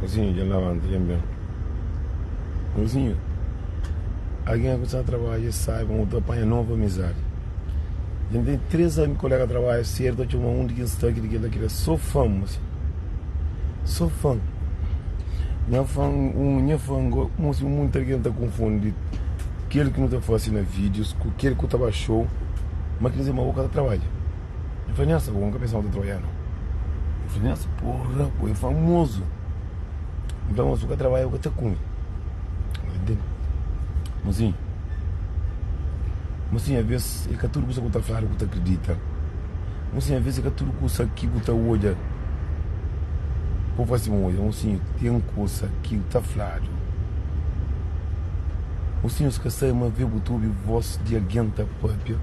Mozinhu dja lavanta dja ben Mozinhu Algen ku sa trabadja saiba ma bu ta panha novu amizadi Dja N ten três kolega di trabadju si el ta txoma un di kes sta ki di ki el ta kre Sô fan mozinhu Sô fan Nha fan un nha fan go Mozinhu monti algen ta konfundi kel ki nu ta fase na vídius ku kel ku ta ba xou ma ki ta kuzê ma bu ka ta trabadja. N fla, Nhasa, bo ka pensa ma bu ta trabadja la? El fla, Nhasa, porra, bo é famozu. N fla, Má si bu ka trabadja, bu ka ta kume. Bo ta ntende? Mozinhu, mozinhu, alvês é ka tudu kusa ki bu ta fladu ki bu ta kridita. Mozinhu, alvês é ka tudu kusa ki bu ta odja pa bu faze sima. Odja, mozinhu, ten kusa ki bu ta fladu, mozinhu, es ka sai ma avê bu ta obi vós di algen ta pâpia.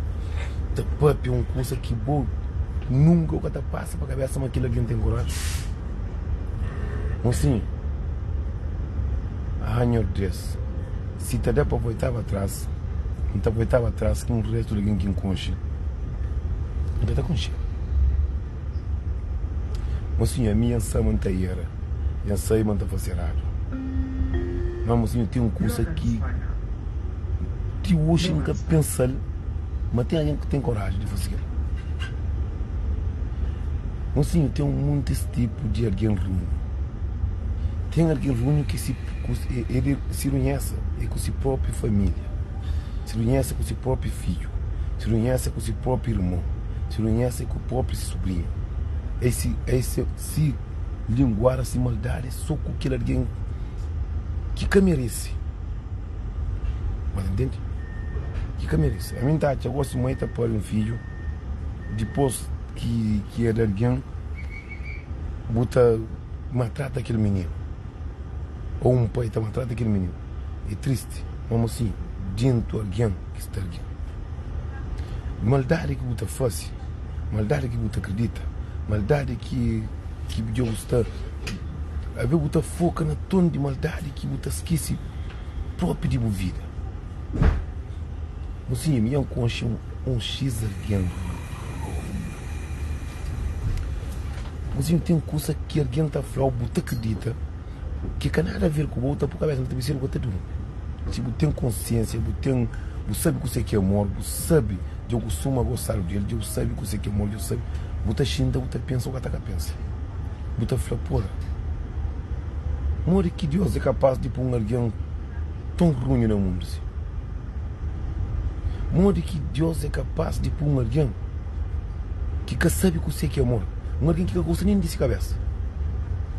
ta pâpia un kusa ki bo nunka bu ka ta pasa pa kabésa ma kel algen ten koraji. Mon sinha, a hanha ordés, si ta da pa volta pa tras, N ta volta pa tras ku un réstu di algen ki N konxe? N ka ta konxe-l. Mosinhu, ami N sa ma N ta era i N sabe ma N ta fase eradu. Má mosinhu, ten un kuza ki ti oxi N ka pensa-l ma ten algen ki ten koraji di faze-l. Mosinhu, ten montis tipu di algen runhu. Ten algen runhu ki el si runhesa é ku se própi família, si runhesa é ku se própi fidju, si runhesa é ku se própi irmon. si runhesa é ku propi si subrinha. Ei si ei se si linguara si maldadi é so ku kel algen ki ka meresi. Mas ta ntende? Ki ka meresi. Ami nta atxa gosi ma ei ta pari un fidju dipos ki ki ed algen bu ta maltrata kel mininu ou un pai ta maltrata kel mininu. É tristi, mamo si djintu algen. ki sta li. Maldadi ki bu ta fase, maldadi ki bu ta kridita, maldadi ki ki dja bu sta avé bu ta foka na ton di maldadi ki bu ta skese propi di bu vida. Nhu sinha mi dja N konxe un xis algen. Nhu sinha ten kusa ki algen ta flau bu ta kridita. ki ka nada aver ku bo, u ta po kabesa na tebe sedu ka ta duri. Si bu ten konsiensia, bu ten, bu sabi kuse ki é amor, bu sabi, dja ku suma gostadu di el, dja bu sabi kuse ki é amor, dja bu sabi, bu ta xinta, bu ta pensa u ka ta ka pensa, bu ta fla pura. Modi ki Dios é kapas di po un algen ton runhu na mundu si? Modi ki Dios é kapas di po un algen ki ka sabi kuse ki é amor, un algen ki ka gosta nen di si kabesa,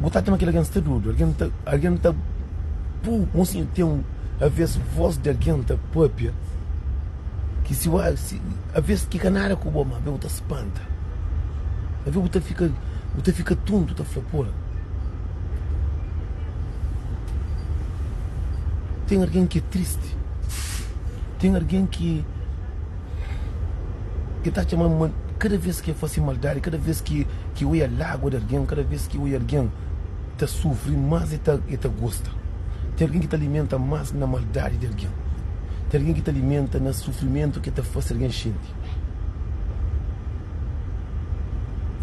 Bu ta atxa ma kel algen sta durmi? Algen ta, algen ta pu un si, ten un, avês vós di algen ta pâpia ki si ua, si, avês ki ka nada ku bo, má ben bu ta spanta. Avê bu ta fika, bu ta fika tuntu, ta fla, pura. Ten algen ki é tristi, ten algen ki. E ta txema mal kada vez ki e fase maldadi, kada vez ki e oia lágua di algen, kada vez ki e oia algen ta sufri, más e ta gosta. Ten algen ki ta alimenta más na maldadi di algen, ten algen ki ta alimenta na sufrimentu ki e ta fase algen xinti.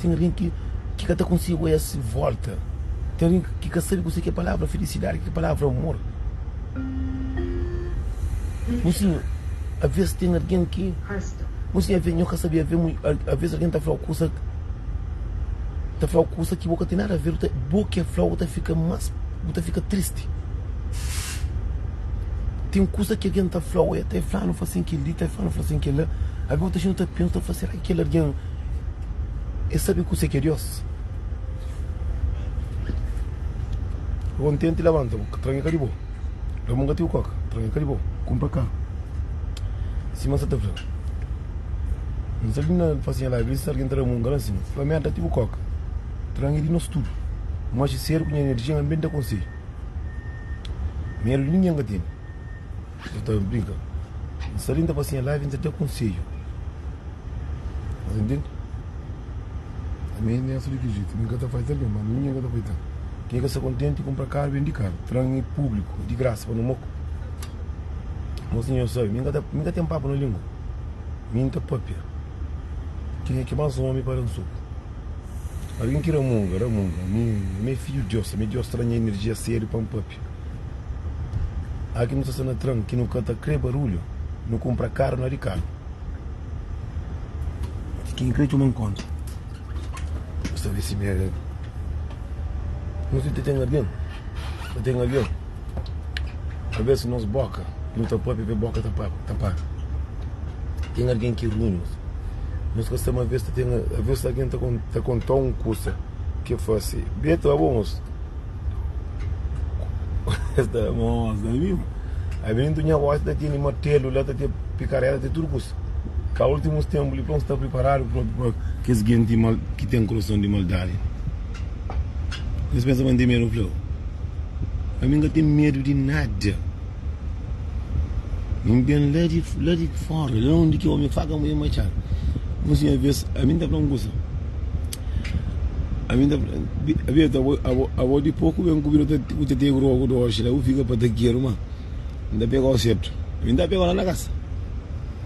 Ten algen ki ka ta konsigi oia se vólta, ten algen ki ka sabe kuzê ki é palavra filisidadi, ki é palavra amor. Nhu sinhor, avês ten algen ki. Nhu sinhor, avês, nhu ka sabe, avê, avês algen ta flau kusa, ta flau kusa ki bo ka ten nada avêl, bo kê flau bu ta fika más, bu ta fika tristi. Ten kusa ki algen ta flau, ê ta fla-nu fasin kel-li, ta fla-nu fasin kel-la, abê bu ta xinti, bu ta pensa, bu ta fla, sera ki kel algen ê sabe kuzê ki é Diós? Ka kontenti labanta bu, ka tranha ka di bo Da bu un gatiu koka, tranha ka di bo Kunpra karu, sima N sa ta fla N sa li na fasinha la igresa si algen ta da-m un gran sima Fla mi N da-ti bu koka, tranha di nos tudu Bu maxe sedu ku nha enerjia, N ben da konsedju Medu di ningen ka tene. Nta ta briga N sta li N ta fase nha live N ta da konsedju Sta ta intende Ami N sa li ki jetu Mi ka ta faze algen mal Ninhen ka ta faze tan Ken ka sta kontenti Kunpra karu Bendi karu Tran e publiku E di grasa pa no Mok Mos ninhen sabe Mi ka Mi ka ten papu na lingua Mi N ta papia Ken e ki mas omi pa da-m soku Algen ki ramunga Ramunga Ami Ami e fidju di Dios Ami Dios ta da nha enerjia sedu pa N papia. Aki nu ta sta na tran ki nu ka ta kre barulhu nu kunpra karu na rikadu ki kin kre txoma nkonta nu sta visi mi algen nu si ta ten algen ta ten algen abes nos boka nu ta papia be boka ta tapadu ten algen ki runhu nos ka sta ma abes ta ten abes algen ta konta un kusa ke fasi be ta bo nos. Esta é mos, ta viu? Ai ben tu nha voz ta tene martelu la ta te pikarela te tudo kus. Ka ultimus tempu li pa un sta priparadu propi pa kes genti mal ki ten kurason di maldadi. Nhos pensa pa N te medu, N flau. Ami N ka ten medu di nada. N ben la di, la di fóra, la undi ki ómi faka mudjer matxadu. Un sinhor bes a mi, N ta fla-m un kuza. A mi, N ta fla-m, Beto, abo, abo, abo di poku ben ku bira ku ta tege roku doxi la, bu fika patakeru ma N ta pega-u sedu. Mi N ta pega-u la na kasa.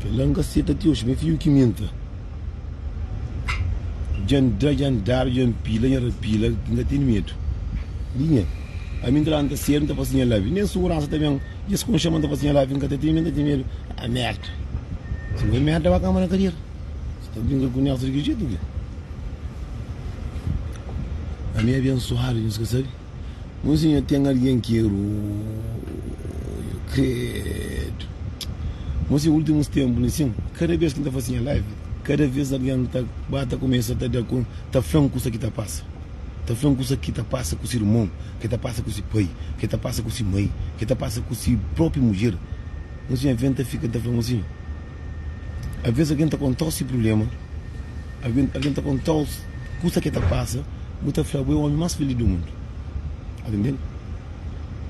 Kel-la N ka seta ti oxi, ma é fiju ki minta. Dja N da, dja N dadu, dja N pila, dja N rapila, ki N ka tene medu di nen. Ami N ta la, N ta sedu, N ta fase nha labi, nen suguransa ta ben. Dja es kon xama-m, N ta fase nha labi, N ka ta teme, N ka ta tene medu. A merda! Si bo é merda, ba kama na kadera. Si ta brinka ku nexu di ki jetu ki? Ami é abensuadu, nhos ka sabe? Nunzi nha ten algen ki é ruju kredu Nunzi ultimus tenpu li sin kada bes ki nta fase nha live kada vez algen ta ba ta kumesa ta da kon ta flan kusa ki ta pasa ta flan kusa ki ta pasa ku si irmon ke ta pasa ku si pai ke ta pasa ku si mai ke ta pasa ku si propi mudjer Nunzi nha ven ta fika ta flan nunzi. Alvês algen ta konta-u se prubléma. Algen ta konta-u kusa ki el ta pasa. Bu ta fla, Bu é ómi más filís di mundu. Atende-m.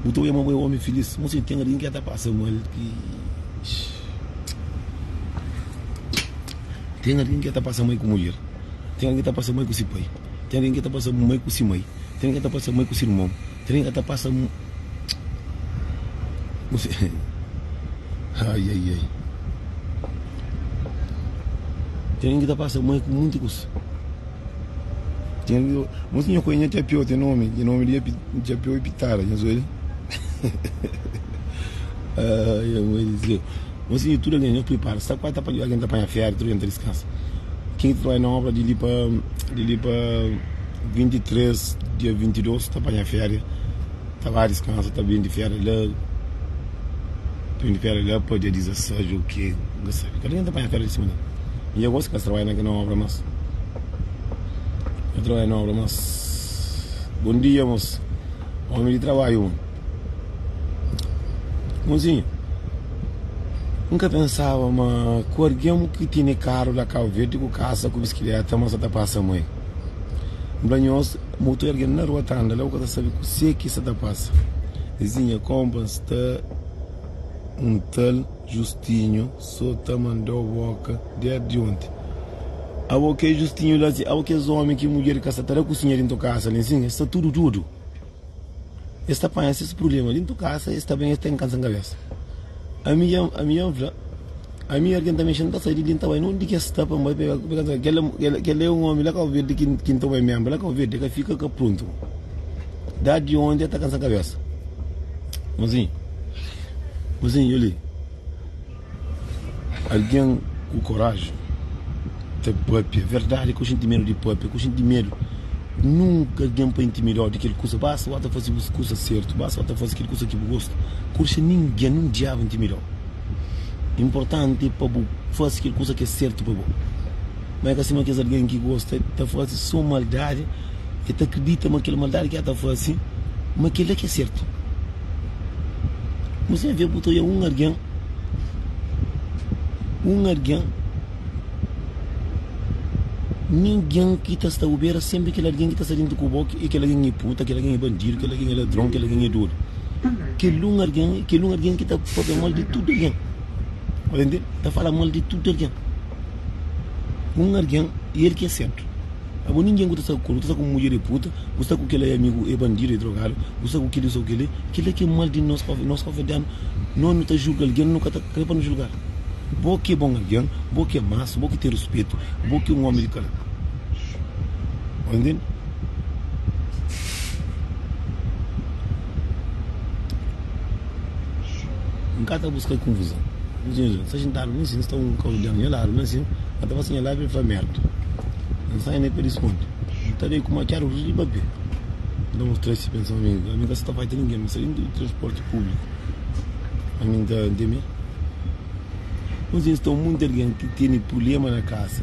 Bu ta odja ma bu é ómi filís. Má si ten algen ki el ta pasa mal, ki Ten algen ki el ta pasa mal ku mudjer. Ten algen ki el ta pasa mal ku se pai. Ten algen ki el ta pasa mal ku se mai. Ten algen ki el ta pasa mal ku se irmon. Trem ka ta pasa mu bu se ai ai ai trem ki ta pasa mu é ku munti kusa ten algi mu tinha ku nha txapiou ten nomi ki nomi di txapiou é pitada nhas obi ai ai mai di séu mu tinha tudu algen nhos pripara sta kuazi ta panha algen ta panha féri tudu algen ta diskansa kin ki ta trabadja na obra di li pa di li pa. 23 dia 22 ta panha féria ta ba diskansa ta bin di féria la ta bin di féria la pa dia 16 dja ok n ka sabe kada ken ta panha féria di sima di otu mi dja gosi kas trabadja na kel óbra más ka trabadja na óbra más bon dia mos ómi di trabadju un monsinhu n ka pensaba ma ku algen ki tene karu la kabu verdi ku kasa ku biskiléta ma sa ta pasa ma el N fla nhos, ma otu algen na rua ta anda la, bu ka ta sabe kuzê ki sta ta pasa. Vizinha, Konpa, N sta un tal Justinhu, sô ta manda-u bóka désdi onti. Abo, kê? Justinhu la si, Abo kes ómi ki mudjer di ka sta ta da kusinha déntu kasa li nsin, es sta tudu-tudu. Es ta panha ses prubléma dentu kasa, es ta ben, es ta inkansa kabésa. Ami dja, ami dja N fla, ami ora ki N ta mexe, N ta sai di li, N ta bai nunde ki es sta pa N bai pa el, pa kasa kel-la, kel-la, kel-la é un ómi la Kabu Verdi ki, ki N ta bai ménbra la Kabu Verdi, el ka fika ka pruntu dadi ondi el ta kansa kabésa. Mozinhu, mozinhu, dja li. Algen ku koraji ta pâpia verdadi ki oxinti medu di pâpia, ki oxinti medu. Nunka algen pa intimidau di kel kusa, basta ba ta fasi bus kusa sertu, basta ba ta fasi kel kusa ki bu gosta. Kurxa ningen, nen diabu intimidau. Inportanti pa bu fasi kel kusa ki é sertu pa bo. Ma é ka sima kes algen ki gosta, e ta fasi so maldadi, e ta kridita ma kel maldadi ki el ta fasi, ma kel-la ki é sertu. Mos ten avê, bu ta oja un algen. un algen, ningen ki ta sta obera senpri kel algen ki ta sta dentu ku bo e kel algen e puta, kel algen e bandidu, kel algen e ladron, kel algen e dodu, kel un algen kel un algen ki ta pâpia mal di tudu algen, sta entende? Ta fala mal di tudu algen, un algen e el ki é sentru. Agu ningen ku ta sta ku nu ta sta ku mudjer e puta bu sta ku kela e amigu e bandidu e drogadu bu sta ku kili sta ku keli kila ke mal di nos pa nos pa fadianu no nu ta julga algen nu ka ta kre pa nu julgal bo ke bon algen bo ke masu bo ke ten ruspetu bo ke un omi di kala bo enten. N ka ta buska konfuzon. N dja N sta xintadu na sin, sta un kalu di algen nha ladu na sin, N ka ta pasa nha lábia pa fla mérda. N sai na pé di skondu, N ta bai ku makiadu rus di papia. N ta mostra-l si pensa ma ami ka sta ta faxi ta ningen, ma sta dentu di transporti públiku ami N ta teme. N ta sinti sta un monti algen ki tene prubléma na kasa.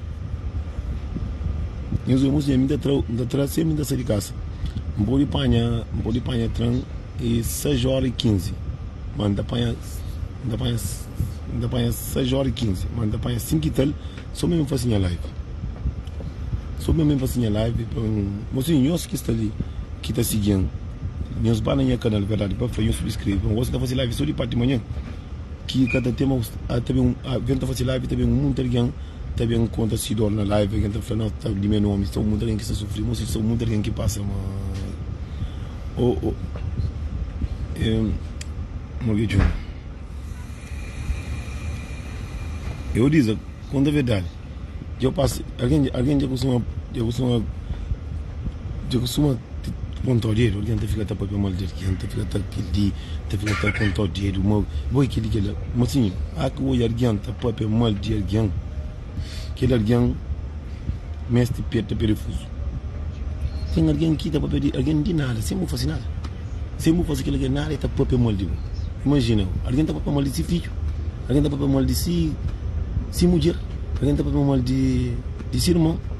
Nhos irmons dja mi ta tra-u, N ta tra-u senpri N ta sai di kasa. N pode panha, N pode panha tran e sais óra i kinzi, má N ta panha, N ta panha, N ta panha sais óra i kinzi, má N ta panha sinku i tal sô mé pa N fase nha live. Sô pa mé N fase nha live pa N mostra nhos ki sta li, ki ta sigi-m. Nhos ba na nha kanal Verdadi pa Fla, nhos subskrebe. Gosi N ta fase live sô di párti di manhan, ki ka ta ten más, ta ben un, ben ta fase live ta ben un monti algen. Ta ben n konta si dor na live algen ta fla nau ta di me nomi sta munt algen ki sta sufri mosi sta munt algen ki pasa mal oh oh em morgê txon e o diza konta verdadi dja pasa algen dja algen dja kustuma dja kustuma dja kustuma kontau dedu algen ta fika ta papia mal di algen ta fika ta pidi. Ta fika ta aponta-u dedu mau, Bo é kel i kel la. Má sinhor, a ka odja algen ta pâpia mal di algen. Kel algen meste peta perefuzu. Ten algen ki ta pâpia di algen di nada, sen bu faze nada. Sen bu faze kel algen nada, el ta pâpia mal di bo. Imajina, algen ta pâpia mal di se fidju, algen ta pâpia mal di se mudjer, algen ta pâpia mal di se irmon.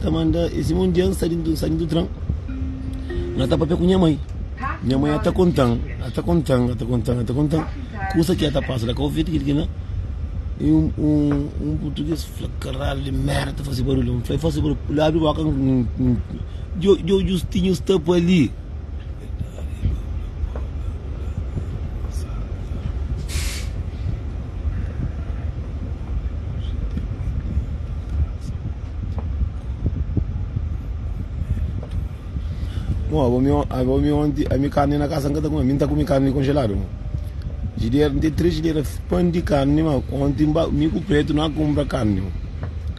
ta manda es irmon di Jan sta di sta di tran na ta papia ku nha mai nha mai ata kontan ata kontan ata kontan ata kontan kusa ki ata pasa la covid kil kila e un un portugues fla karal di merda ta fasi barulhu fla fasi barulhu la abri boka djo djo djo stinhu sta pa li Bom, abo mi, on- abo mi onti, a mi carne na casa nunca tá comi. Mim tá comi carne congelada, mo. Gideira, tem três gideira f- pão de carne, mas ontem ba- mi com o preto não compra carne, mo.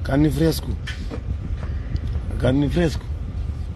Carne fresco. Carne fresco.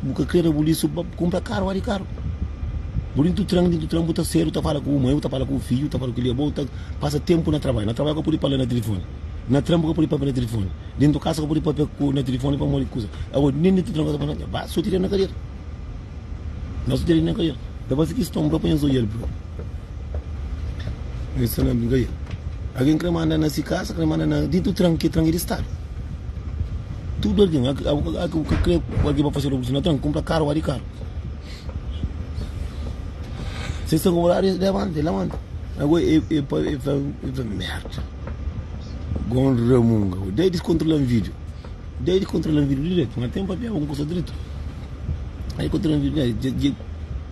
Bu ka krê da bu lisu pa kunpra karu ódi karu. Bu dintu tran, dintu tran bu ta sedu, ta fala ku bu mai, bu ta fala ku bu fidju, ta fala ku kiliabô, bu ta pasa ténpu na trabadju. Na trabadju bu ka pode pâpia na tilifoni. Na tran bu ka pode pâpia na tilifoni. Dintu kasa bu ka pode pâpia ku na tilifoni pamodi di kusa. Agoa, nen dintu tran kasa bu ba soti di na kadera. Na soti di na kadera. Dja fase kiston bro pa nhos oial bro. Oi sa na mi bai Algen kre manda na si kasa kre manda na Dintu tran ke tran e di stadu Tudu algen a a ku kre algen pa fase revoluson na tran Kumpra karu wadi karu Se sta ku vontadi e lamanta e lamanta Agora e e pa e fla e fla merda Gon Ramunga Oi dai diskontrolan vidio Dai diskontrolan vidio diretu na tenpa pia algun kusa dritu Dai diskontrolan vidio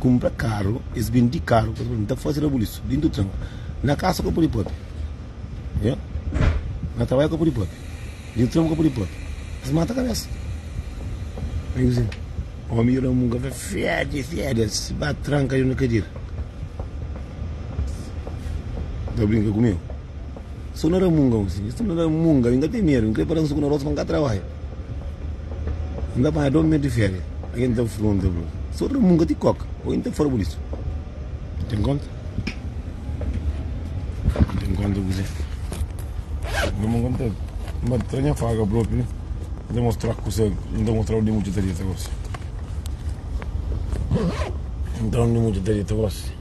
Kunpra karu, es bindi karu pa es pode ta faze rabulisu dintu tranka. Na kasa ka pode papia, nha. Na trabadja ka pode papia, dintu tranpa ka pode papia. Es mata kabesa. Ai kuzê? Omi i Ramun ka fla fede, fede, es ba tranka dentru di kadira. Ta brinka ku meu? Sô na ramunga un si. Sô na ramunga. Inda ten medo. Inkrê para un suku na rosa pa nka trabalha. Inda panha dô medo di féria. Algen ta frunta bu. Sô ramunga ti koka. Ô inta fora bu lisu. N ten konta. N ten konta kuzê. Dôma nka N ta. N ba tra nha faka propi. N ta mostra kusa. N ta mostra undi mudje ta rieta gosi. N ta undi mudje ta rieta gosi.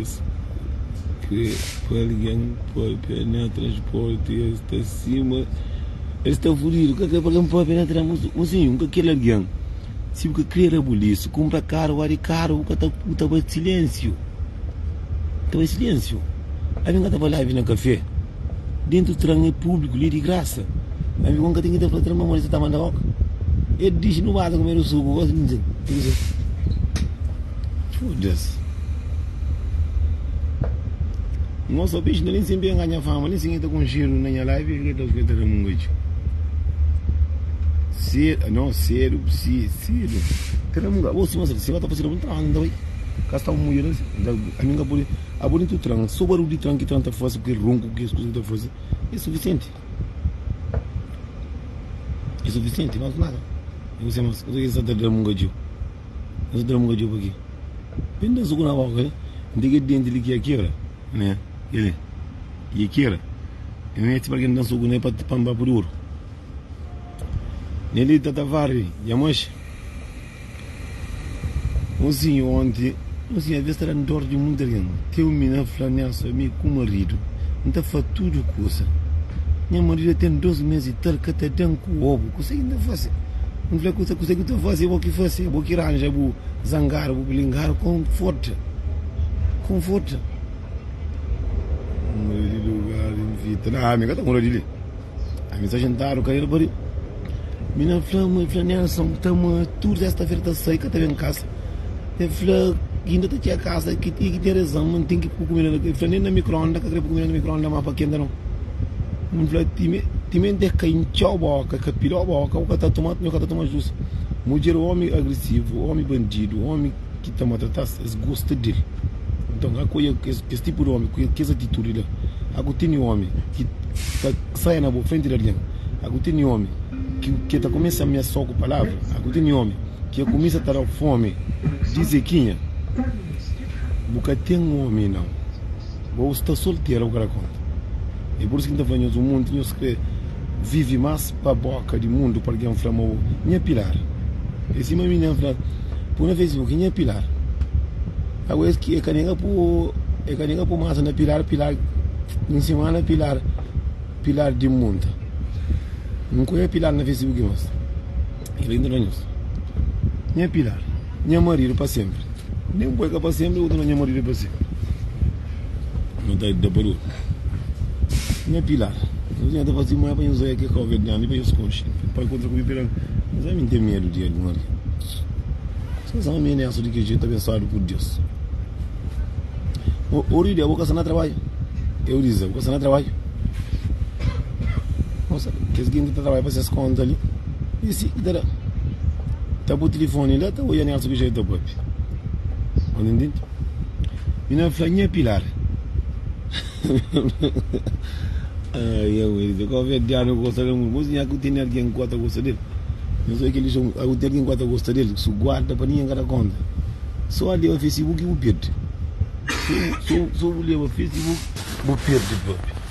Es krê pa algen pâpia na transpórti, es ta sima. Es ta fudidu, ka krê pa algen pâpia na tren. Mosinhu, N ka kel algen. Si bu ka krê da bu lixu, kunpra karu, ódi karu, bu ka ta, bu ta bai silénsiu. Ta bai silénsiu. Algen ka ta fala, Abi na kafé. Dentro tran é público li é di graça Ami ku nka ten ki ta fla tran ma modi sa ta manda ok El dixi nu bata kumedu suku gosi nu ten ki ta fla Foda-s Nho so bixi na nen sen penga nha fama nen sen el ta konxedu na nha live el ta fla tran munga txeu Sedu no sedu si sedu tran munga bo sima sa ta fla si ba ta fla sedu bu nu ta fla nada nu ta bai ka sta un mudjer asi ami nka pudi. Abo di ntu tran, so barul di tran ki tran ta fase ku kel ronku ku kes kuza ki ta fase e sufisienti. E sufisienti, mas nada. E kuse mas? Kuzê ki N sta ta da-m un gadjô? N sta ta da-m un gadjô pa ke? Bem da-m so ku na boka li. N tege denti li ki ya kebra, ne? Keli ki ya kebra, e mi mete pa algen da-m so ku ne pa N ba pudi oru. Neli ta ta varri, dja manxa. Ozinho onti, ozinho aves ta da-m dor di munti algen. Teu mina fla nha somi ku maridu N ta fla tudu kusa. Nha maridu dja ten dôs mês i tal ka ta da-m ku obu. Kuzê ki N ta fase? N fla kusa, kuzê ki ta fase é bo ki fase, é bo ki ranja bu zangaru, bu blingaru. Konforta, konforta. Maridu Gari, N fita, ami ka ta mora di li. Ami sta xintadu ka el bari Mi na fla ma el fla Nelson ta ma tudu sesta-fera ta sai ka ta ben kasa El fla ki inda ta txia kasa ki i ki ten rezan ma N ten ki pui kumida na el fla nen na mikroonda N ka kre pui kumida na mikroonda ma pa kenta non N fla timenti el ka intxau boka el ka pilhau boka bo ka ta toma atu mi ka ta toma jus mudjer omi agrisivu omi bandidu omi. ki ta matratas, es gosta di el. Nton, a ku oja kes tipu di omi ku kes atitudi la? A ku tene omi ki ta saia na bo frenti di algen? A ku tene omi ki ta kumesa amesau ku palavra? A ku tene omi ki a kumesa ta da fomi di zekinha? Bu ka ten omi, nau. Bo bu sta soltera ku el a konta e pur isu ki N ta fla nhos un monti nhos kre vivi mas pa boka di mundu pa algen fla ma o nha pilar e sima mi nha fla pu na facebook nha pilar agu es ki e ka nega pu e ka nega pu masa na pilar pilar N sima na pilar pilar di munta N ku nha pilar na facebook mas el inda na nhos nha pilar. nha marido pa senpri. Nen ku el ka pa senpri, otu na nha marido é pa senpri. Nhos ta da pa dôs. Nha Pilar, nhos nha ta fase moé pa nhos oia ke kau ved grandi pa nhos konxi. El pai kontra ku mi, Pilar, nhos ami n'ten medu di el di Maria. Sen sa ami n'é aso di ke jetu, abensuadu ku Deus. O ori di abo ka sta na trabadju? Eu dizi, abo ka sta na trabadju. Nhos sabe, kes genti ta trabadja pa ses konta li. Disi, Ki ta da? Ta bu tilifoni la, ta odja nérsu ki jetu ta pâpia. Anda intindi? Mi na fla, Nha Pilar. Ai, au, el disi, Kóve é diâniu ku gosta del mui. Mos nha ku tene algen ku ta gosta del. Nhos oi kel lixon, au, ten algen ku ta gosta del, su guarda pa ningen ka da kónta. So a leba Facebook ki bu pirdi. So bu leba Facebook, bu pirdi pâpia.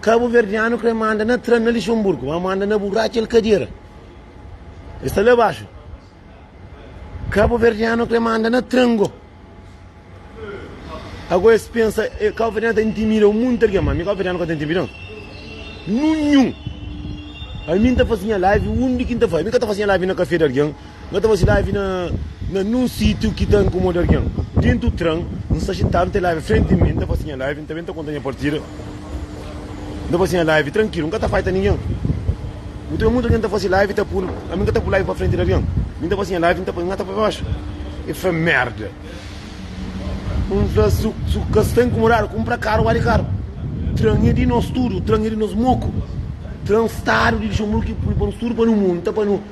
Kabuverdianu kre ma anda na tran na Lixonburgu, ma ma anda na burraca el kadera. El sta la baxu. Kabuverdianu kre ma anda na tran go. Ago es pensa, eh, Kabuverdianu ta intimida un monti algen, ma mi Kabuverdianu ka ta intimida un. Nunhun. Ami n ta fase nha live undi ki n ta fase. Mi ka ta fase nha live na kafé di algen. N ta faze live na na nun sitiu ki ta inkomoda argen. Dintu tran, N sta xintadu, N ten live frenti di mi, N ta faze nha live, N ta ben ta konta nha partida, N ta faze nha live trankilu, N ka ta faita ningen. Bu ta ben mutu argen ta faze live ta pul, ami N ka ta pul live pa frenti di argen. Mi N ta faze nha live, N ta poi ngata pa baxu. E fla merda. N fla su su ka sta inkomodadu, kunpra karu, bali karu. Tran e di nos tudu, tran e di nos moku. Tran stadu di Luxenburgu ki pul pa nos tudu pa nu mu, N ta pa nu.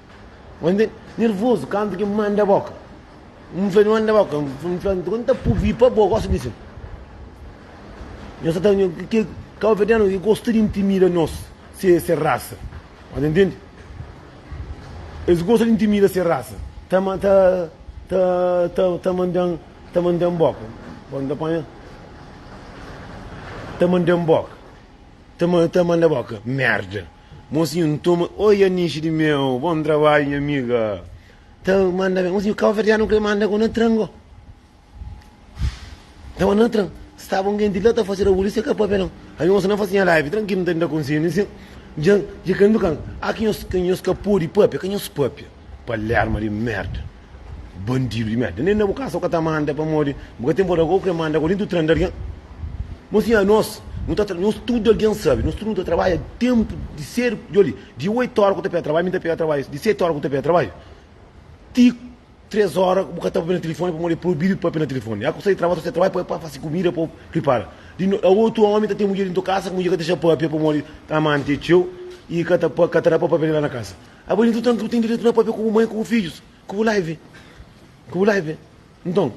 N anda nervozu kantu ki N manda bo ka. N fla, N manda bo ka. N fla, N ta purvi pa bo. Gosi di si. Nhos sta ta. Kel kabuverdianu e gosta di intimida nos, se, se rasa. Nhos ta ntende? Es gosta di intimida se rasa. Ta, ta, ta, ta, ta manda-m, ta manda-m bo ka. Bo N ta panha. Ta manda-m bo ka. Ta, ta manda bo ka. Merda! Mozinhu N toma Oi Anixi di meu Bon trabadju nha amiga Ta manda ben Mozinhu Kabuverdianu Kre manda ku na tran go Tava na tran Staba un genti la Ta fase rabuli Se ka papelon Ami mozinhu Na fase nha live Trankil N ta da konselhu Dja dja kre ndukan Aki nhos nhos ka pode papia Ka nhos papia. Palerma di merda. Bandidu di merda. Nen na bu kasa bu ka ta manda pamodi bu ka ten bordador. Agora bu kre manda agora dentu tranda algen. Mon sinha nos nu ta tra nos tudu algen sabe nos tudu nu ta trabadja tempu di sedu djoli di 8 ora ku ta pega trabadju mi ta pega trabadju di 7 ora ku ta pega trabadju ti 3 ora bu ka ta papia na telefoni pamodi e probidu di papia na telefoni ya ku sai di trabadju ta sai di trabadju pa fasi kumida pa pripara di no a otu omi ta ten mudjer dentu kasa ku mudjer ka ta dexa papia pamodi amanti e txeu i ka ta pa ka ta da pa papia la na kasa. Abo li nton tantu bu ten direitu na papia ku bu mai ku bu fidjus ku bu live ku bu live nton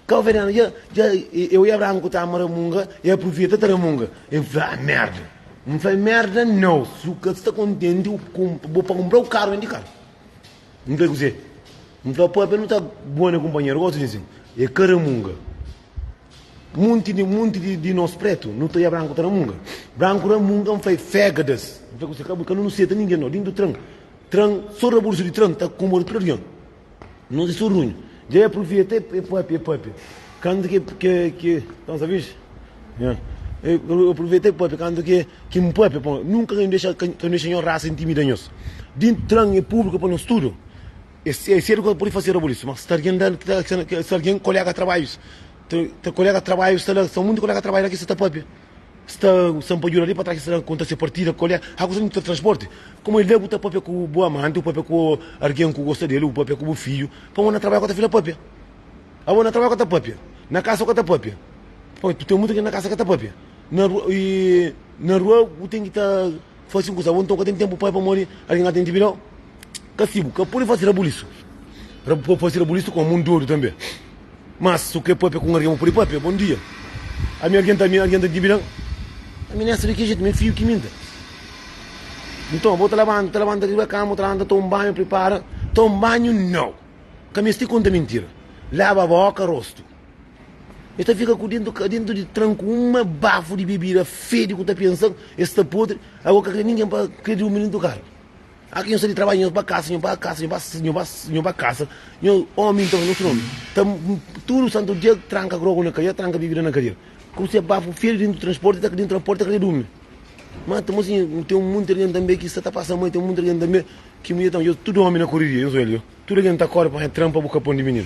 kau venenu dja dja eu e abraham ku tama ramunga e apruveta ta ramunga e fla ah merda N fla e merda nau su ka sta kontenti u kump bo pa kumprau karu vendi karu N fla e kuzê N fla papia nu ta bone kumpanheru gosi di nsin e ka ramunga. Monti di monti di, di nos pretu, nu ta ia branku ta ramunga. Branku ramunga, N fai fegadas. N fai kusa, ka bu, ka nu nu seta ningen no. Dintu tran, tran, so rabursu di tran ta komoda tudu avion. Nos e so runhu. Dja e provia ta e papia, e papia. Kantu ke, ke, ke, tran sa vixi? Ya. E, e provia ta e papia kantu ke, ke N papia pa. Nunka ka N dexa, ka N dexa nhos rasa intimida nhos. Dintu tran e publiku pa nos tudu. Es sedu ku ta pudi fase rabulisu, ma sta algen la ki sta na sta algen kolega trabajus ta kolega trabajus sta la sta munti kolega trabajus la ki sta ta papia sta sta pa juda li pa tras ki sta ta konta se partida kole a kusa di transporti kuma el la bu ta papia ku bu amanti bu papia ku algen ku gosta del bu papia ku bu fidju pamodi na trabaju ka ta fika papia abo na trabaju ka ta papia na kasa ka ta papia poi ten munti algen na kasa ka ta papia na rua na rua bu ten ki ta Fase un kusa bon, nton ka ten tenpu pai pamodi algen ka ten djibi dau kastigu. Ka pode fase rabulisu. Ka fase rabulisu ku amun dodu tanbe. Mas, si bu krê pâpia ku un algen, bu pode pâpia, Bon dia, ami algen ta ami, algen ta djibi dan aminésa. Di ki jetu? Mi é fidju ki minta. Nton, bo ta labanta, ta labanta riba kama, bu ta labanta, ta toma un banhu, pripara. Toma un banhu? Nau! Ka meste konta mintira. Laba bóka, rostu. E ta fika ku dentu ka dentu di tranku uma bafu di bebida fedi ku ta pensa e sta podri ago ka kre ningen pa kre di umi nin tukar aki nho sa di trabadja nho ba kasa nho ba kasa nho ba nho ba nho ba kasa nho omi nton nos nomi ta tudu santu dia tranka grogu na kadeira tranka bebida na kadeira ku se bafu fedi dentu di transporti ta dentu transporti ta kre dumi ma ta mosi ten un monti algen tambe ki sa ta pasa ma ten un monti algen tambe ki mudjer ta tudu omi na koriria nhos oel yo tudu algen ta kori pa nha tranpa bu ka pon di mininu.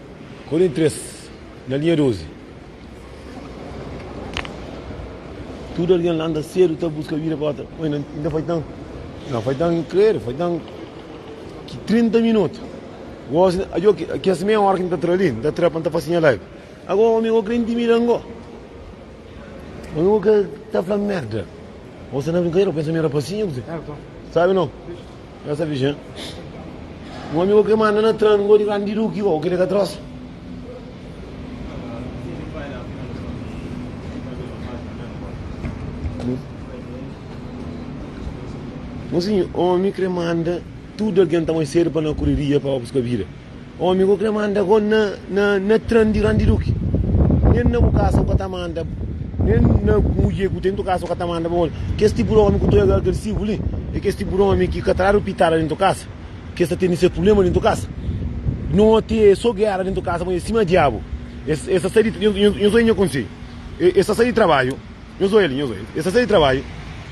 Korinti 3, na linha 12. Tudu algen la anda sedu ta buska vida pa otra. Oi, nan, inda faitan, nan faitan kredu, faitan ki 30 minutu. Gosi, ajo ki, ki as meia hora ki nta tra ali, nta tra pa nta fasi nha live. Ago, omi, go kre intimida ngo. Omi, go kre ta fla merda. Gosi na brincadeira, pensa mi rapasinho, gosi. Sabe não? Nhos avisa-m. Un amigu ke manda na tra ngó di grandi duki, uau, kel-li ka trosa. Nhos, un omi krê manda tudu algen ta mai sedu pa na kuriria pa ba buska bida. Omi ku kre manda ko na na na tran di randi duki. Nen na bu kasa ku kata manda nen na muje ku ten tu kasa ku kata manda bo. Kes tipo di omi ku tu ega agresivo li e kes tipo di omi ki ka tradu pitada nen tu kasa. Kes ta tene se problema nen tu kasa. Noti e so gera nen tu kasa ma e sima diabu. Es es ta sai di nho nho nho so e nha konseju. E es ta sai di trabaju. Nhos oi ali, nhos oi. E sta sai di trabadju,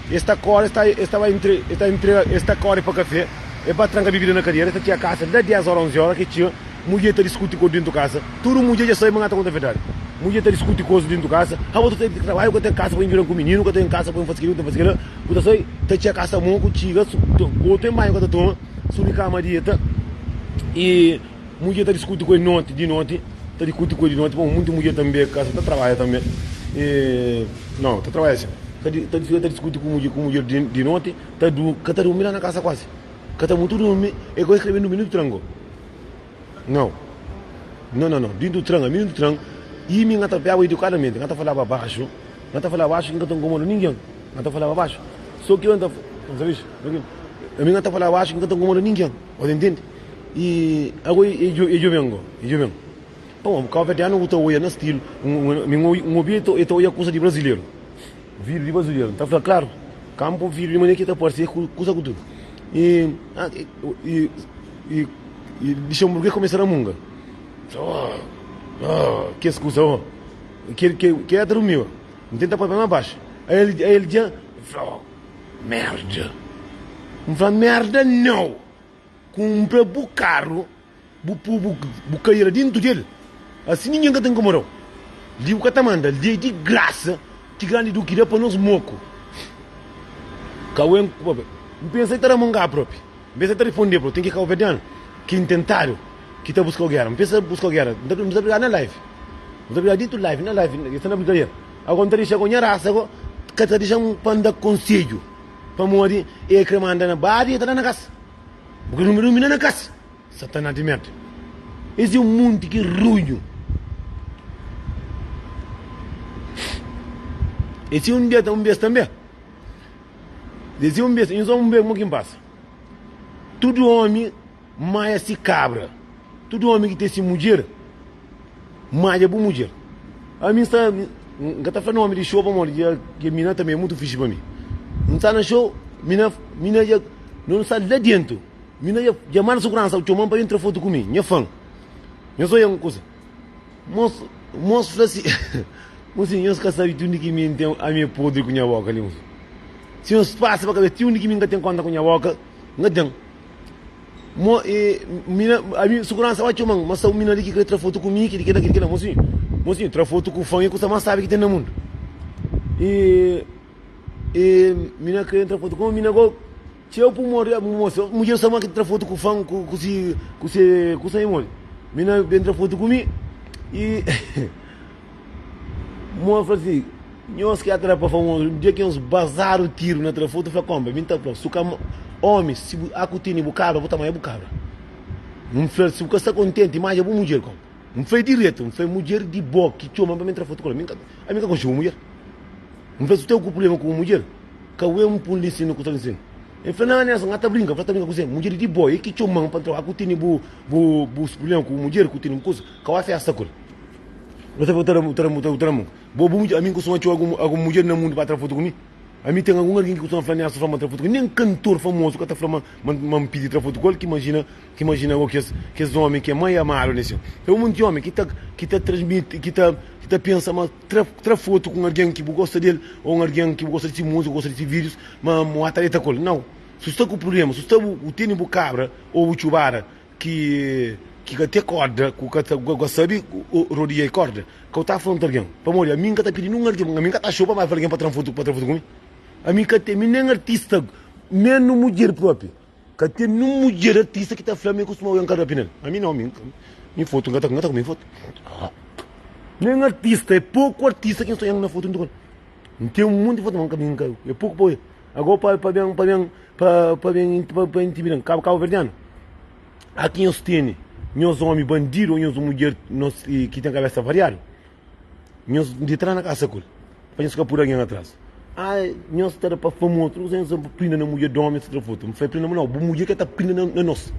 e sta kore, e sta, e sta bai entre, e sta entrega, e sta kore pa kafé, e ba tranka bibida na kadera, e sta txia kasa da dés ora, onzi ora ke txia, mudje ta diskuti kodu dentu kasa, tudu mudje dja sai ma ngata konta fetadi, mudje ta diskuti kosu dentu kasa, ha bo ta sai di trabadju ka ten kasa pa injudan ku mininu, ka ten kasa pa un fasi keli, un ta fasi kela, bu ta sai ta txia kasa mo ku txiga, su, bo ten banhu ka ta toma, subi kama dieta, e. Mudjer ta diskuti ku el noti, di noti, ta dikuti ku el di noti, pamodi munti mudjer tanbe ka sta ta trabadja tanbe, e nau, ta trabadja sin, ta di, ta fika ta diskuti ku mudjer, ku mudjer di, di noti, ta du, ka ta durmi la na kasa kuasi, ka ta mutu durmi, e gosi krebe durmi dintu tran go, nau, no, no, no, dintu tran, ami dintu tran, imi nga ta piaba idukadamenti, nga ta falaba baxu, nga ta falaba baxu ki nga ta nkomoda ningen, nga ta falaba baxu, so ki yo n ta, n sabis, ami nga ta falaba baxu ki nga ta nkomoda ningen, o ta ntende. E ago e joven go e joven pa un kabuverdianu ku ta oia na stilu un obi e ta oia kusa di brazileru vidu di brazileru ta fla klaru kanpu vidu di mane ki ta parse kusa ku tudu e e luxenburges kumesa ramunga kes kusa o kel kel la ta rumi o N tenta papia mas baxu a el dja N fla merda N fla merda nau. Kunpra bu karu, bu pô bu kadeira dentu di el, asi ningen ka ta inkomoda-u. Li bu ka ta manda lei di grasa ki Grandi Duki da pa nos moku. Kawen Kubabe, N pensa el ta da-m un ga propi. N pensa el ta riponde pa-u. Ten ki kabuverdianu ki intentadu ki ta buska-u gera. N pensa buska-u gera. N ta N ta brigadu na live. N ta brigadu dentu live, na live, el sta na brigadeira. Ago N ta dexa-u nha rasa ago, ka ta dexa-m pa N da konsedju. Pamodi e kre manda na badi e ta da na kas. Bu kre dunbi-dunbi na na kas. Satana di mete. Es e munti ki runhu. E si un beta un bes tanbe. E si un bes, un so un bes, kuma ki n pasa? Tudu omi. Maja si kabra. Tudu ómi ki ten si mudjer, maja bu mudjer. Ami N sta, N ka ta fla nómi di xou pamodi dja kel mina tanbê é mutu fixi pa mi. N sta na xou, mina mina dja no N sta la déntu, mina dja dja manda suguransa txoma-m pa ben tra fotu ku mi, nha fan. Nhos oja un kuza. Mos mos fla si Mo si nhos ka sabe ti undi ki mi N ten ami é podri ku nha bóka li. Mo si nhos pasa pa kabesa ti undi ki mi N ka ten kónta ku nha bóka, N ka ten. Mo, e, mina, ami, seguransa ba txoman, ma sa un mina li ki kre tra fotu ku mi, ki di kela, ki di kela. Mosinhu, mosinhu, tra fotu ku fan e kusa más sábi ki ten na mundu. E, e, mina kre tra fotu ku un mina go, txeu pu mori, ah, moça, mudjer sa má ki tra fotu ku fan, ku, ku si, ku se, kusa e mori. Mina ben tra fotu ku mi, e, Moa fla si, Nhos ki atrapa famozu, dja ki nhos bazadu tiru na tra fotu, fla konbe, mi ta fla-u, si bu ka omi, si bu a ku tene bu kabra, bu ta maia bu kabra. N fla-l, si bu ka sta kontenti, maja bu mudjer konbe. N fla-i diretu, N fla-i, mudjer di bo ki txoma-m pa mi tra fotu ku el, ami n ka konxi bu mudjer. N fla-i, si bu ten ku prubléma ku bu mudjer, ka bu é un pulisi nu ku ta lisi-m. El fla, Nan, Nelson, N ka ta brinka. N fla, Ta brinka kuzê? Mudjer di bo, el ki txoma-m pa N tra, a ku tene bu prubléma ku bu mudjer, ku tene bu kuza, ka bu a fésta ku el. Bo ta fla, ta da mu, ta da mu, ta da mu. Bo, bo, ami kustuma txeu algun mudjer na mundu pa tra fotu ku mi. Ami ten algun algin ki kustuma fla neas, ta fla ma tra fotu ku el. Nen kantor famozu ka ta fla ma N pidi tra fotu ku el. Ki imajina, ki imajina bo kes, kes ómi ki é mai amadu na es txéu. Sta ben monti ómi ki ta, ki ta transmiti, ki ta, ki ta pensa ma tra, tra fotu ku un algen ki bu gosta di el ô un algen ki bu gosta di se múzika, gosta di se vídius, ma bu ba ta deta ku el. Nau! Si bu sta ku prubléma, si bu sta bu, bu tene bu kabra ô bu txubada Ki ki ka te korda ku ka ta ka sabi rodia e korda ka u ta afronta algen pamodi ami nka ta pidi nin arti ami nka ta xopa ma fla algen pa tran fotu pa tran fotu ku mi ami ka ten mi nen artista menus mudjer propi ka ten nin mudjer artista ki ta fla mi ku suma oja nka rapi nel ami no ami mi fotu nka ta ku mi fotu nen artista e poku artista ki nsoja na fotu ntukan nten monti fotu ma nka mi nka e poku pa oja. Agó pa pa ben pa ben pa pa ben pa, pa intimidan kaba kaba verdiano. Aki nhos tene nhos omi bandido ou nhos mudjer nos ki tem cabeça variado. Nhos de trás na casa kul. Pa nhos ka pur alguém atrás. Ah, nhos ta da pa fama outro, não sei se pa prinda na mudjer de omi etc. Foto. Fai prinda não, bu mudjer ke ta prinda na, na nos.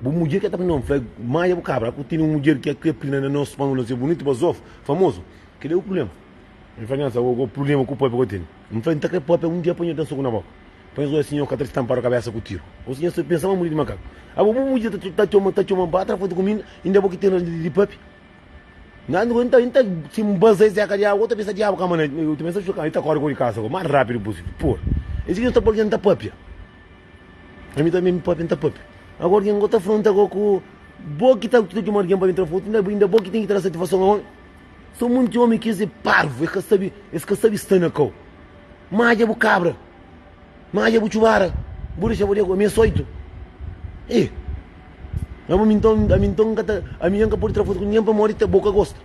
Bu mudjer ke ta prinda não, fai maia bu cabra. Aku tene um mudjer ke ke prinda na nos pa nos é bonito, bazof, famoso. Kele é o problema. N fla, Nhas, ago go prubléma ku pâpia go ten. N fla, N ta krê pâpia un dia panha-u ten soku na boka. Panha zóia si nhô ka ta ta tanpa-u kabésa ku tiru. Gosi nhas ta pensa ma muri di makaku. Ago bu mudja ta ta txoma ta txoma-m ba tra fotu ku mi inda? Inda é bo ki ten ras di di pâpia? Nhas, N ta N ta si N baza es éka di agu, go ta pensa diabu kama na el. El ta pensa txu kama el ta kóre go di kasa go más rápidu pusível. Por isu ki nhos ta fla algen, N ta pâpia. Ami tanbê mi pâpia, N ta pâpia. Ago algen go ta fronta go ku, Bo ki ta ta txoma algen pa ben tra fotu, inda inda bo ki ten ki ta da satifason a un? Sa monti omi kes é parvu e ka sabi es ka sabi sta na kau madja bu kabra madja bu txubara bu dexa bo dego ami é soitu e ama mi nton ami nton nka ta ami nha nka podi tra fotu ku ningen pamodi ta bo ka gosta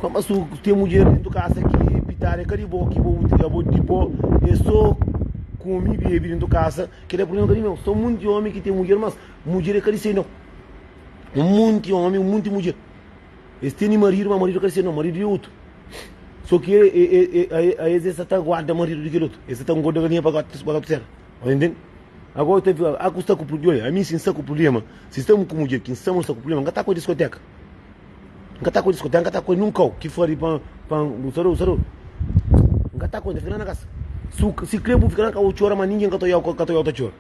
kau ma su ten mudjer dentu kasa ki pitadu e ka di bo ki bo utri abo di bo e so komi bebi dentu kasa kila é prubléma ka di meu sa monti omi ki ten mudjer mas mudjer e ka di se nau monti omi monti mudjer. Es teni maridu, ma maridu ka dissedu, no, maridu é otu. So ki aes sa ta guarda maridu di kel otu, es sa ta ngorda galinha pa gotus pa gotus sera. Bai ntende? Agora ta fla, a ku sta ku prublema, olha, ami si N sta ku prublema, si stamo ku mudjer ki N sama, N sta ku prublema, N ka ta ku el diskoteka, N ka ta ku el diskoteka, N ka ta ku el num kau ki fla di pa pa N sa dou, sa dou, N ka ta ku el, N ta fika la na kasa, si kre bu fika la na kasa bu txora, ma ningen ka ta odiau, ka ta odiau ta txora.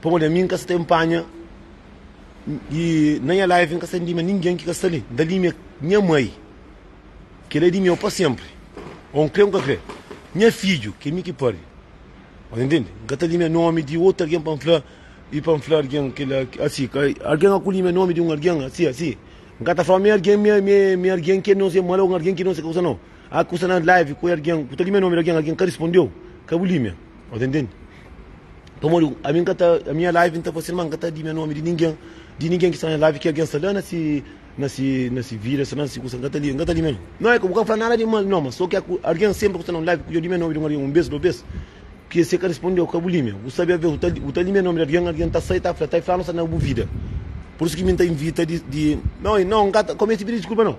Pamodi ami N ka sta enpanha i na nha live N ka sta ndima ningen ki ka sta li. N ta dime nha mai, ki el é di meu pa sénpri. Ô N krê ô N ka krê, nha fidju, ki é mi ki pârdi. Bo ta intende? N ka ta dime nómi di otu algen pa N fla i pa N fla algen kila asi. Algen ka kudime nómi di un algen asi asi. N ka ta fla ma é algen, mi algen ki é nôs é mal ô algen ki é nôs é kusa nau. Ah ku sta na live ku algen ku ta limia nomi di algen algen ka rispondeu ka bu limia o ta intendi pamodi ami nka ta a minha live nta fasi ma nka ta limia nomi di ningem di ningem ki sta na live ki algen sta la na si na si na si vida sta la na si kusa nka ta limia nka ta limia nomi no bu ka fla nada di mal no ma so ke ku algen sempri ku sta na un live ku dja limia nomi di un algen un bes dos bes ki ese ka rispondeu ka bu limia bu sabe aves bu ta bu ta limia nomi di algen algen ta sai ta fla ta fla no sta na bu vida pur isu ki mi nta invita di di no no nka ta kome ese pidi diskulpa no.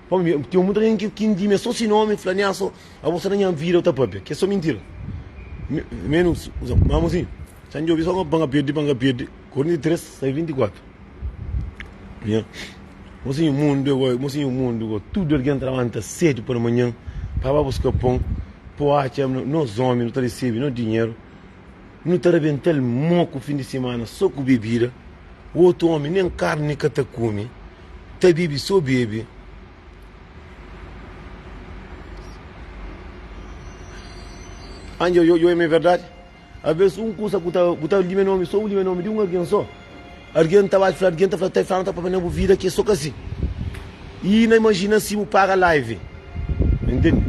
Pamodi mi ten muita algen ki ki di-m, é sô si nómi, fla-ne-a sô, abo sta na nha vida, bu ta pâpia, ki é sô mintira. Mi, mi nu usa-m, má amô sin, txan djobe sô pa N perde, pa N perde. Korinti 3, sai 24. Nha, mo sinhu mundu é gó, mo sinhu mundu gó, tudu algen ta labanta sédu pa da manhan pa ba buska pon, pa bu atxa nos ómi, nu ta resebe nos dinheru. Nu ta rabenta-l mó ku fin di simana sô ku bebida. Otu ómi nen karni ka ta kume, ta bebe sô bebe. Anji, Oi, oi, oi, ma é verdadi? Alvês un kusa bu ta lime nómi sô, bu lime nómi di un algen sô. Algen ta bai fla algen ta fla ta fla nu ta pâpia na bu vida ki é so kasi i na imajina si bu para live intende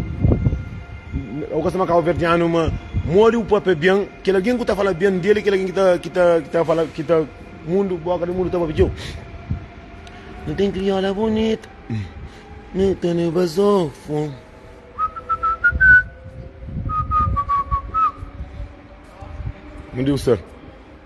au gosta ma kabuverdianu ma modi bu pâpia ben kel algen ku ta fala ben di el i kel algen ki ta ki ta fala ki ta mundu boka di mundu ta pâpia txeu nu ten kriola bunita nu ta na bazofu bom dia ustad.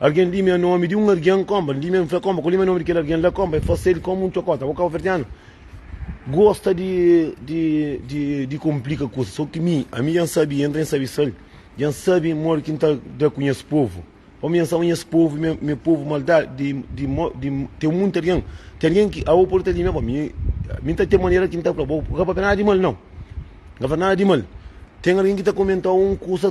Algen limia nomi di un argen konba, limia un fla konba, ku limia nomi di kel argen la konba, e fase el komu un txokota. Bo kabuverdianu gosta di di di di konplika kusa, so ki mi, ami dja N sabi i N ta sabi sal, dja N sabi modi ki N ta da ku nhas povu. Ô mi dja N sabi ma nhas povu i me povu maldadi di di mo di ten munti argen, ten argen ki abo pode ta limia bo, mi mi N ta ten manera ki N ta fla bo, bu ka papia nada di mal nau, bu ka fla nada di mal, ten argen ki ta komentau un kusa.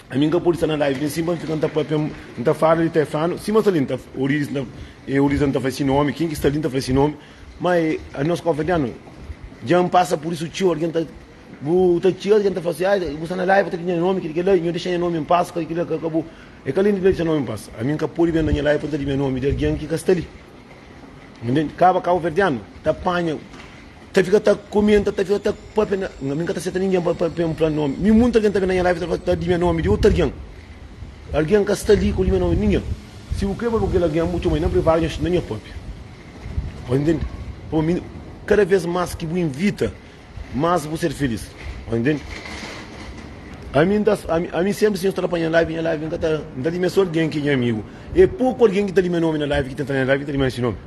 Ami n ka podi sta na live li sin pa n fika n ta papia n ta fala li ta e flanu sima sta li n ta orizi e orizi n ta fla si nomi kin ki sta li n ta fla si nomi ma e nos konfradianu dja n pasa pur isu txeu algen ta bu ta txeu algen ta fla si ai bu sta na live ta di nha nomi kel kila nho dexa nha nomi n pas kel kila ka bu e ka li n dexa nomi n pas ami n ka podi ben na nha live pa n ta di nha nomi di algen ki ka sta li nden kaba kabuverdianu ta panha. Ta fika ta komenta, ta fika ta papia na. Nga mi ka ta seta ningen pa pa pa npla nomi. Mi munti algen ta ben na nha live ta fla ta di nha nomi di otu algen. Algen ka sta li ku di nha nomi, ningen. Si bu kre fla ku kel algen bu txoma-l na privadu nha na nha papia. Ôs ntende? Pa bu mi kada vez mas ki bu invita mas bu ser felis. Ôs ntende? Ami nta ami ami senpri si nhos ta la pa nha live, nha live nka ta nta limia so algen ki nha amigu. E poku algen ki ta limia nomi na live ki tenta nha live ki ta limia nhos nomi.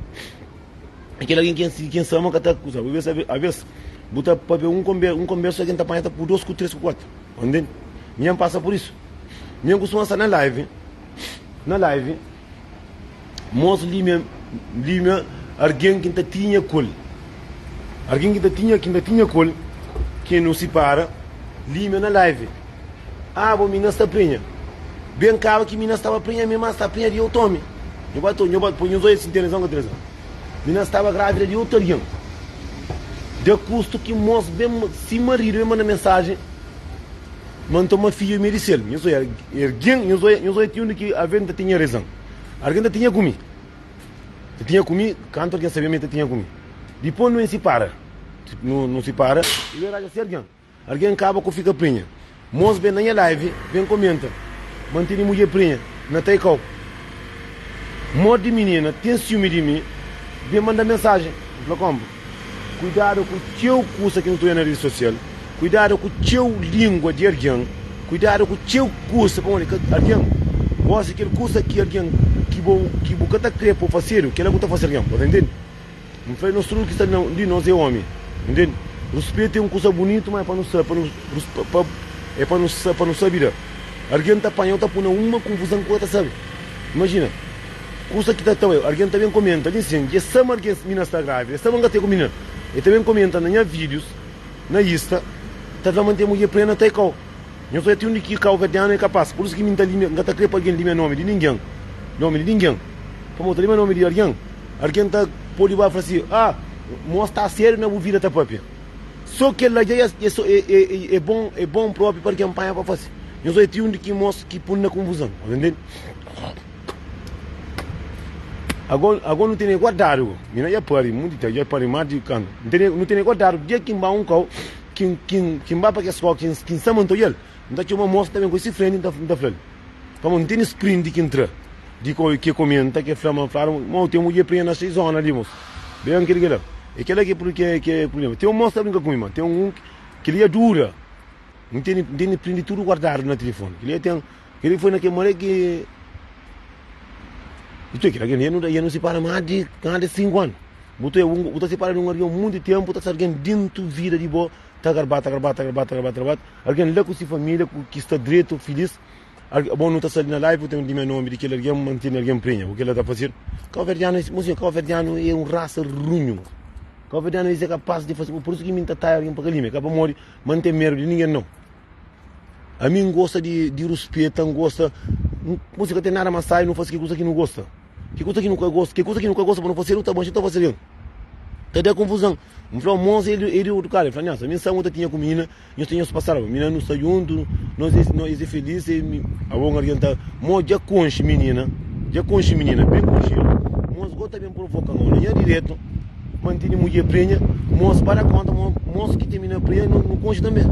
É kel algen ki ki N sa ama ka ta akuza bu. Abês, abês, bu ta pâpia un konbérsa, un konbérsa ki N ta panha ta pur dôs ku três ku kuatu. Ô ntende? Mi N pasa pur isu. Mi N kustuma sta na live, na live, mos límia, límia algen ki N ta tinha ku el, algen ki N ta tinha, ki N ta tinha ku el, ki N nu sipara, límia na live. Abo, mi na sta prenha. Ben kaba ki mi na staba prenha, mi ma sta prenha di otu omi. Nho ba ta, nho ba ta poi nhos oi asin ten rezon ka ten rezon. Mi na staba grávida di otu algen. Da kustu ki mos ben, si maridu ben manda mensajen ma N toma fidju, mi dise el, nhos oi, ergen, nhos oi, nhos oi ati undi ki aven ta tinha rezon. Argen ta tinha ku mi. Ta tinha ku mi, kantu algen sabia ma el ta tinha ku mi. Dipô nu N sipara. Nu, nu sipara, i ben raja si algen. Algen kaba ku fika prenha. Mos ben na nha live ben komenta ma n tene mudjer prenha na tai kau. Mod di minina ten siumi di mi ben manda mensajen n fla kompa kuidada ku txeu kusa ki nu ta oja na redi sosial, kuidada ku txeu lingua di algen, kuidada ku txeu kusa pamodi ka algen gosi kel kusa ki algen ki bo ki bu ka ta kre pa bu fasedu kela ku ta fase algen bo ta ntende. N fla-i, nos tudu ki sta na un di nos é ómi. Nu ntende? Ruspetu é un kusa bunitu, má é pa nu sa, pa nu ruspa, pa, é pa nu sa, pa nu sabe da. Argen ta panha-u, ta pô-u na uma konfuzan ki u ka ta sabe. Imajina, kusa ki ta ta-u é, argen ta ben komenta li nsin, dja sa ma argen, mi na sta grávida, sa ma N ka ta é ku minina. El ta ben komenta na nha vídius, na Insta, ta fla ma N ten mudjer plena ta é kau. Nhos odja ti undi ki kau ka ten anu é kapas. Pur isu ki mi N ta limia, N ka ta krê pa argen limia nómi di ningen, nómi di ningen. Pamodi ta limia nómi di argen? Algen ta pode ba fla si, Ah, mo sta sériu na bu vida ta pâpia. Sô kel la dja é bon, é bon própi pa algen panha pa fase. Nhos odja ti un di kimoz ki pô-nu na konfuzon. Agó nu tene guardadu, mi na dja pâpia monti di txeu, dja pâpia más di kantu, nu tene guardadu dia ki N ba un kau ki N ba pa kes kau ki N sta ma N ta odja-l. N ta txoma mosa ta ben koi si frenti N ta N ta flal pamó N tene sprint ki N tra di koi ke komê N ta ke fla ma N flal ma u ten mudje prenha na si zona li mos be N kre kela e kela ke pro ke ke problema ten un mos ta brinka ku mi ma ten un keli ya dura N tene N tene print tudo guardado na telefone keli ya ten keli foi na ke mare ke i toi kela kende ya no ya no sipara ma di ma di sinku anu bu toi u ta sipara di un algen mundu tenpu ta sa algen dentu vida di bo. Ta garbat, ta garbat, ta garbat, ta garbat, ta garbat Algen la ku si família ku ki sta dretu, filís Algen, Bon, nu ta sabe na Laipu ten un di mé nómi di kel algen mantinu na algen prenha ku kel la ta fazedu Kauverdianu es, Monsinhor, kauverdianu é un rasa runhu Kauverdianu es é kapás di faze, pur isu ki mi N ta taia algen pa ka lime-l Ka pamodi ma N ten medu di ningen, nau Ami N gosta di, di ruspeta, N gosta Monsinhor, ka ten nada ma sai nu faze kel kuza ki nu gosta. Ke kusa ki nu ka gosta? Ke kusa ki nu ka gosta pa nu fasedu ta bon, xi ta fasedu? Ta da konfuzan. N fla, Mons el di otu kal? El fla, Nhas, ami sangu ta tinha ku mina, nhos ta nhos pa salva. Mina nu sta djuntu, nos e nos e felis e mi. Abo un algen ta. Mo dja konxe minina, dja konxe minina, ben konxe-l. Mons go ta ben provoka-m. Ô, na nha diretu, ma N tene mudjer prenha, mons ba da konta ma mons ki ten mina prenha nu konxe tanbe.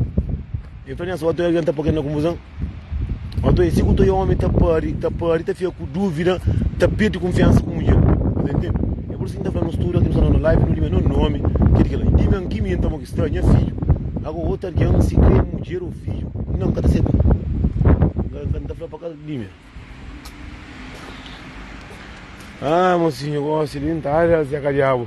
El fla, Nhas, otu algen ta po-ke na konfuzan. Nton, es siguta i ómi ta pâdi, ta pâdi, ta fika ku dúvida, ta perde kunfiansa ku mudjer. Bo ta intende? É por isu ki N ta fla nos tudu, ki nu sta na nos live, nu dime nos nómi. Ki é di kel-la? N dime anki mi, nton, bo ki sta, nha fidju. Ago, otu algen, si krê é mudjer ô fidju, nau, N ka ta seta. N ka, N ka ta fla pa kal dime. Â, mo sinhu, gósi di N ta. Â, Zé, ka diabu.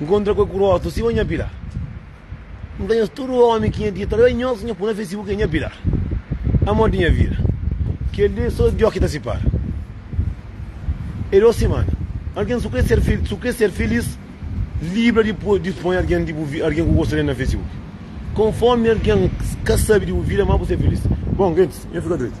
Nkontra ku el ku rostu sima nha pilar N ta nhos tudu ómi ki nha tia ta da nhos Nha puna facebook é nha pilar Amor di nha vida Kel-li so djo ki ta sipara E dos simana Algen su kre ser fil su kre ser filis Libra di po di sponha algen di bu vi algen ku gosta del na facebook Konformi algen ka sabe di bu vida ma bu ser filis Bon gentis nha fika dretu.